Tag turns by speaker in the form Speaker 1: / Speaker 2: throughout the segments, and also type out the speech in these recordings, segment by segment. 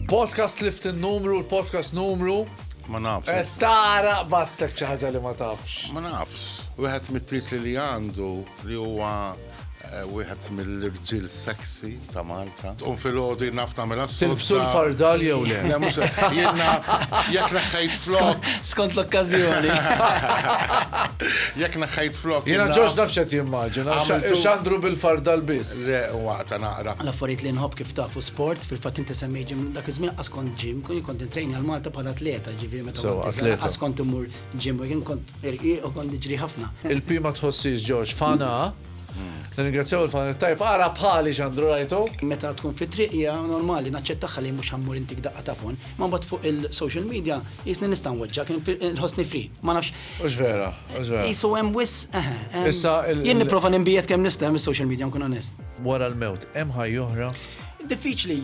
Speaker 1: Podcast lift il-numru, l-podcast numru. Ma nafx. Eh,
Speaker 2: tara battek
Speaker 1: xi ħaġa li ma tafx. Ma nafx.
Speaker 2: Wieħed mit-titli li għandu li huwa wieħed mill-irġiel sexy ta' Malta. Tqum fil-ħodu jien naf tagħmilha s-sodda. Tilbsu l-fardal
Speaker 1: jew le? Le, mhux jien naf
Speaker 2: jekk neħħejt flok. Skont l-okkażjoni. Jekk neħħejt flok. Jiena ġoġ naf x'qed
Speaker 1: jimmaġina. X'għandru bil-fardal biss. Le, waqta naqra.
Speaker 2: L-affarijiet li nħobb kif
Speaker 3: tafu sport, fil-fatt inti semmej ġim dak iż-żmien qas kont ġim, kont intrejni għal Malta bħala atleta, ġifieri meta kont atleta. Qas kont immur Jim, u jien kont irqiq u kont niġri ħafna. Il-P ma tħossix
Speaker 1: George fana. Nirringrazzjaw il-fan it-tajb, ara bħali x'għandru rajtu. Meta tkun fit-triq
Speaker 3: hija normali naċċettagħha li mhux ħammur intik daqqa ta' phone, imma mbagħad fuq il-social media qisni nista' nweġġgħek, inħossni free, ma nafx. Mhux vera, mhux
Speaker 1: vera. Qisu hemm wisq, eħe, hemm.
Speaker 3: Issa il-
Speaker 1: Jien nipprova ninbiegħed
Speaker 3: kemm nista' mis-social media nkun onest. Wara l-mewt, hemm
Speaker 1: ħajja oħra? Diffiċli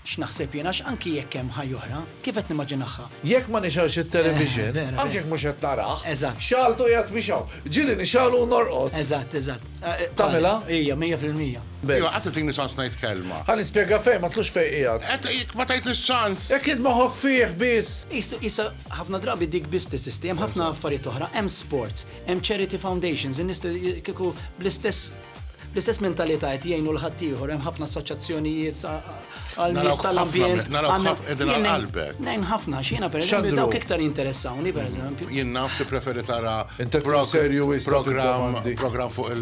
Speaker 3: x'naħseb jien għax anki jekk hemm ħajja oħra, kif qed nimmaġinaħha? Jekk ma nixgħelx
Speaker 1: it-television, anke jekk mhux qed
Speaker 3: narah,
Speaker 1: xagħaltu qiegħed
Speaker 3: mixgħul.
Speaker 1: Ġieli nixgħalu u norqod. Eżatt, eżatt.
Speaker 3: Tagħmilha?
Speaker 1: Ija, mija fil-mija.
Speaker 3: Ija, qatt tagħtini ċans
Speaker 2: ngħid kelma. Ħa nispjega fejn, ma tlux
Speaker 1: fejn qiegħed. Qed jekk ma tgħidlix ċans.
Speaker 2: Jekk int moħħok fih
Speaker 1: biss. Isa ħafna
Speaker 3: drabi dik biss teżisti, hemm ħafna affarijiet oħra, hemm sports, hemm charity foundations, in-nies kieku bl-istess L-istess mentalità qed jgħinu l-ħaddieħor, hemm ħafna assoċjazzjonijiet għal nies tal-ambjent. Nejn ħafna xina per eżempju dawk iktar interessawni per eżempju. Jien naf ti preferi
Speaker 2: tara program fuq
Speaker 1: il